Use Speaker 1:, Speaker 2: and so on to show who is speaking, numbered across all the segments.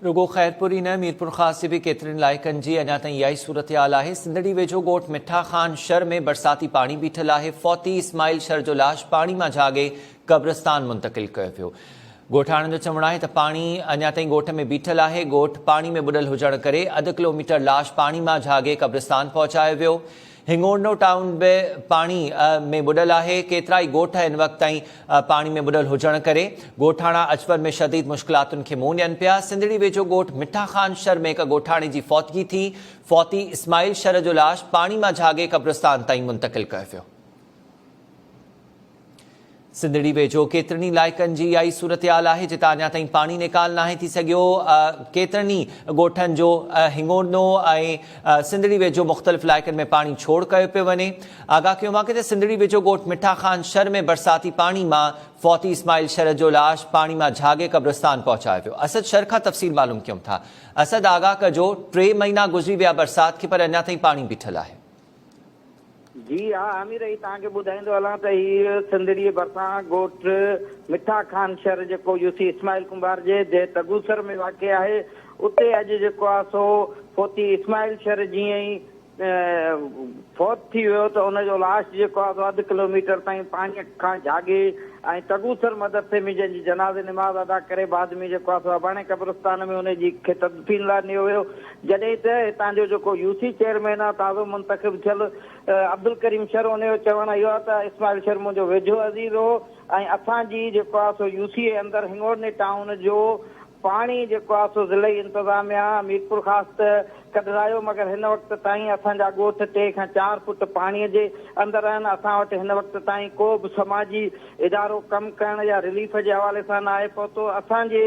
Speaker 1: رڳو خيرپور ئي نه ميرپورخاص جي به ڪيترن علائقن جي اڃا تائين اها ئي صورتحال آهي، سنڌڙي ويجهو ڳوٺ مٺا خان شھر ۾ برساتي پاڻي بيٺل آهي، فوتي اسماعيل شھر جو لاش پاڻي مان جھاڳي قبرستان منتقل ڪيو ويو، ڳوٺاڻن جو چوڻ آهي ته پاڻي اڃا تائين ڳوٺ ۾ بيٺل آهي، ڳوٺ پاڻي ۾ ٻڏل هجڻ ڪري اڌ ڪلوميٽر لاش پاڻي مان جھاڳي قبرستان پهچايو ويو. هنگوڙنو ٽائون به پاڻي ۾ ٻڏل آهي، ڪيترائي ڳوٺ هن وقت تائين پاڻي ۾ ٻڏل هجڻ ڪري ڳوٺاڻا اچپر ۾ شديد مشڪلاتن کي منهن ڏين پيا، سنڌڙي ويجهو ڳوٺ مٺا خان شھر ۾ هڪ ڳوٺاڻي جي فوتگي ٿي، فوتي اسماعيل شھر جو لاش پاڻي مان جھاڳي قبرستان تائين منتقل ڪيو ويو. سنڌڙي ويجهو ڪيترن ئي علائقن جي اها ئي صورتحال آهي جتان اڃا تائين پاڻي نيڪال ناهي ٿي سگهيو، ڪيترن ئي ڳوٺن جو هنڱوڙنو ۽ سنڌڙي ويجهو مختلف علائقن ۾ پاڻي ڇوڙ ڪيو پيو وڃي، آگاهه ڪيون واڪي تي سنڌڙي ويجهو ڳوٺ مٺا خان شھر ۾ برساتي پاڻي مان فوتي اسماعيل شرد جو لاش پاڻي مان جھاڳي قبرستان پهچايو ويو اسد شھر کان تفصيل معلوم ڪيون ٿا اسد آگاهه ڪجو ٽي مهينا گذري ويا برسات کي پر اڃا تائين پاڻي بيٺل آهي.
Speaker 2: جي ها حمير اي توهان کي ٻڌائيندو هلان ته هي سنڌڙيء ڀرسان ڳوٺ مٺا خان شھر جيڪو يوسي اسماعيل ڪنڀار جي ديھ تگوسر ۾ واقع آهي اتي اڄ جيڪو آ سو فوتي اسماعيل شھر جيئن ئي فوت ٿي ويو ته ان جو لاش جيڪو آ سو اڌ ڪلو ميٽر تائين پاڻيء کان جھاڳي ۽ تگوسر مدرسي ۾ جنھن جي جنازي نماز ادا ڪري بعد ۾ جيڪو آ سو اباڻي قبرستان ۾ ان جي کي تدفين لاء نيو ويو جڏهن ته هتان جو جيڪو يو سي چيئرمين آهي تازو منتخب ٿيل عبدالڪريم شر ان جو چوڻ اهو آهي ته اسماعيل شر منهنجو ويجهو عزيز هو ۽ اسان جي جيڪو آهي سو يو سي اي اندر هنڱورني ٽائون جو پاڻي جيڪو آهي سو ضلعي انتظاميا ميرپورخاص ته ڪڍرايو مگر هن وقت تائين اسان جا ڳوٺ ٽي کان چار فوٽ پاڻي جي اندر آهن اسان وٽ هن وقت تائين ڪو به سماجي ادارو ڪم ڪرڻ يا رليف جي حوالي سان ناهي پهتو اسان جي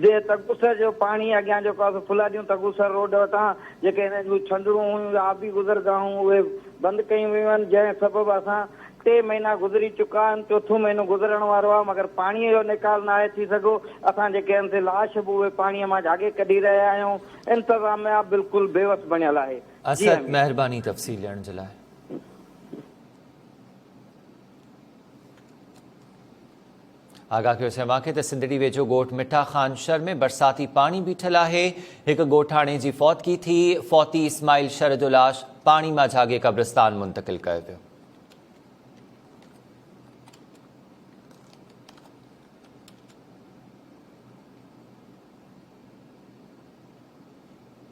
Speaker 2: جي تگوسر جو پاڻي اڳيان جيڪو آهي سو فولاديون تگوسر روڊ وٽان جيڪي هن جون ڇنڊرون هيون يا آبي گذرگاهون اهي بند ڪيون ويون آهن جنهن سبب اسان ٽي مهينا گذري چڪا آهن چوٿون مهينو گذرڻ وارو آهي مگر پاڻي جو نيڪال ناهي ٿي سگهو اسان جيڪي آهن سي لاش به اهي پاڻي مان جهاڳي ڪڍي رهيا آهيون انتظاميا بلڪل بيوس بڻيل آهي جي اسد امين. مهرباني
Speaker 1: تفصيل ڏيڻ جي لاء. آگاهه ڪيو سين واقعي ته سنڌڙي ويجهو ڳوٺ مٺا خان شھر ۾ برساتي پاڻي بيٺل آھي ھڪ ڳوٺاڻي جي فوتگي ٿي فوتي اسماعيل شھر جو لاش پاڻي مان جھاڳي قبرستان منتقل ڪيو ويو